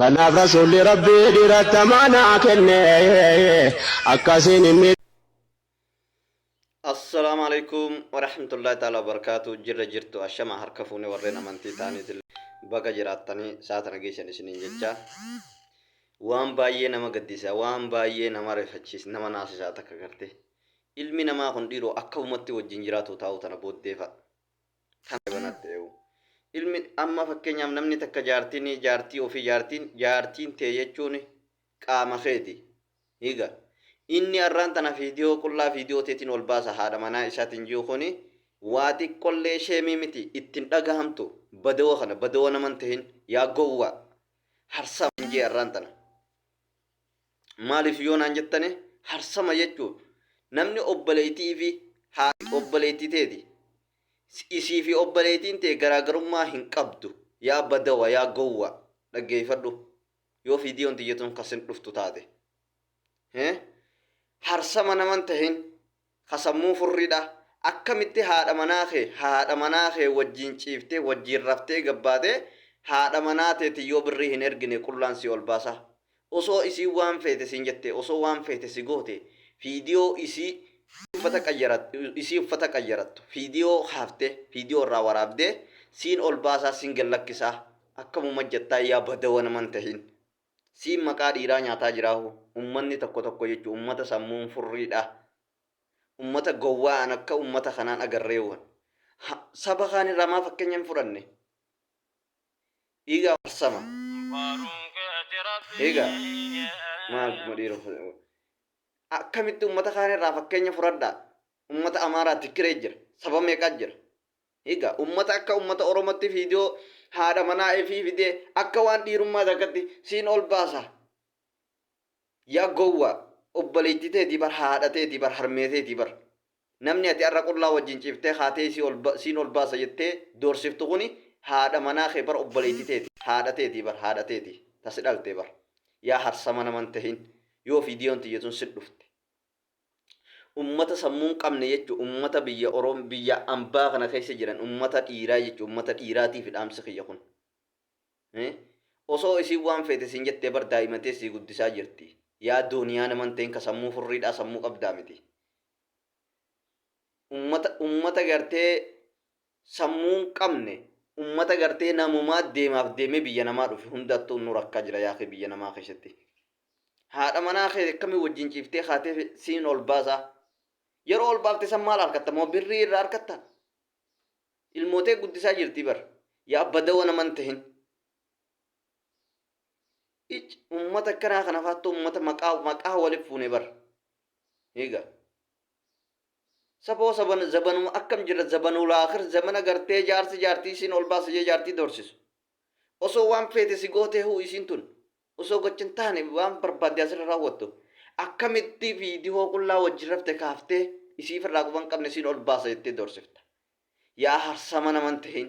Kanaaf Rasuulli Rabbii dhiiratti amaanaa kenne. Akkasiin hin miidhamu. Assalaamu alaikum warahmatullahi ta'ala wabarakaatu jirra jirtu ashama harka fuune warreen amantii ta'aniitillee baga jiraattanii saatana geessan isiniin jecha waan baay'ee nama gaddisiisa waan baay'ee nama rifachiis nama naasisaa takka garte ilmi namaa kun dhiiroo akka ummatti wajjin jiraatu taa'u tana booddeefa Kan banat ta'eu. Ilmi amma fakkeenyaaf namni takka jaartini jaartii ofii jaartiin jaartiin tee jechuun qaama keeti. Higa. Inni arraan tana fiidiyoo qullaa fiidiyoo teetiin wal baasa haadha manaa isaatiin jiu kuni waa xiqqollee sheemii miti itti hin dhagahamtu badawa kana badawa nama hin tahin yaa gowwaa. Harsaa hin jee arraan tana. Maaliif yoo naan jettane harsama jechuun namni obboleettii fi haati obboleettii teeti. Isii fi obboleettiin tee garaagarummaa hin qabdu. Yaa badawa yaa gowwa dhaggeeffadhu yoo viidiyoon tiyya tun kasin dhuftu taate. Harsama naman tahin ka sammuu furriidha. Akkamitti haadha manaa kee, haadha manaa kee wajjiin ciiftee, wajjiin raftee gabbaatee, haadha manaa teeti yoo birrii hin ergine qullaan si ol baasa? Osoo isiin waan feete siin jette, osoo waan feete si goote, fiidiyoo isii uffata qayyarattu, isii uffata qayyarattu, fiidiyoo kaaftee, fiidiyoo irraa waraabdee, siin ol baasaa, siin gad lakkisaa? Akkamuma jettaa yaa badawa nama hin tahin. Siin maqaa dhiiraa nyaataa jiraa hoo ummanni tokko tokko jechu ummata sammuun furrii dha ummata gowwaa an akka ummata kanaan agarree wan ha saba kaan irraa maa fakkenya hin fudhanne dhiiga arsama dhiiga maal kuma dhiira akkamitti ummata kaan irraa fakkenya furadhaa ummata amaaraa tikkiree jira saba meeqaa jira Egaa ummata akka ummata oromotti video haadha manaa ifii fidee akka waan dhiirummaa takkatti siin ol baasa yaa gowwaa obboleettii teetii bar haadha teetii bar harmee teetii bar namni ati arra qullaa wajjin ciiftee kaatee isii ol siin ol baasa jettee doorsiftu kuni haadha manaa kee bar obboleettii teeti haadha teetii bar haadha teeti ta si dhalte bar yaa harsama nama hin tahin yoo videon tiyya tun sit dhufte ummata sammuu hin qabne jechu ummata biyya orom biyya ambaa kana keessa jiran ummata dhiiraa jechu ummata dhiiraatiif dhaamsi kiyya kun Eh? osoo isiin waan feete siin jettee bar daa'imatee sii guddisaa jirti yaa dooniyaa naman ta'in ka sammuu furriidhaa sammuu qabdaa miti ummata ummata gartee sammuu hin qabne ummata gartee namumaa deemaaf deemee biyya namaa dhufe hundattuu nu rakkaa jira yaa kee biyya namaa keessatti Haadha manaa kee akkamiin wajjin ciiftee kaatee siin ol baasaa? Yeroo ol baafte san maal arkatta? Moo birrii irraa arkatta? Ilmoo tee guddisaa jirti bar. Yaa badawa naman tahin. Ic ummata akkanaa kana faattu ummata maqaa maqaa waliif fuune bar. Eega. Saboo saban zabanuma akkam jira zabanuu laakir zamana gartee jaarsi jaartii siin ol baasa jee jaartii doorsisu. Osoo waan feete si gootee huu isiin tun. Osoo gocha hin taane waan barbaadde asirra raawwattu akkamitti viidiyoo qullaa wajjin rafte kaaftee isii firraa quba hin qabne siin ol baasa jettee doorsifta? Yaa harsama nama hin tahin!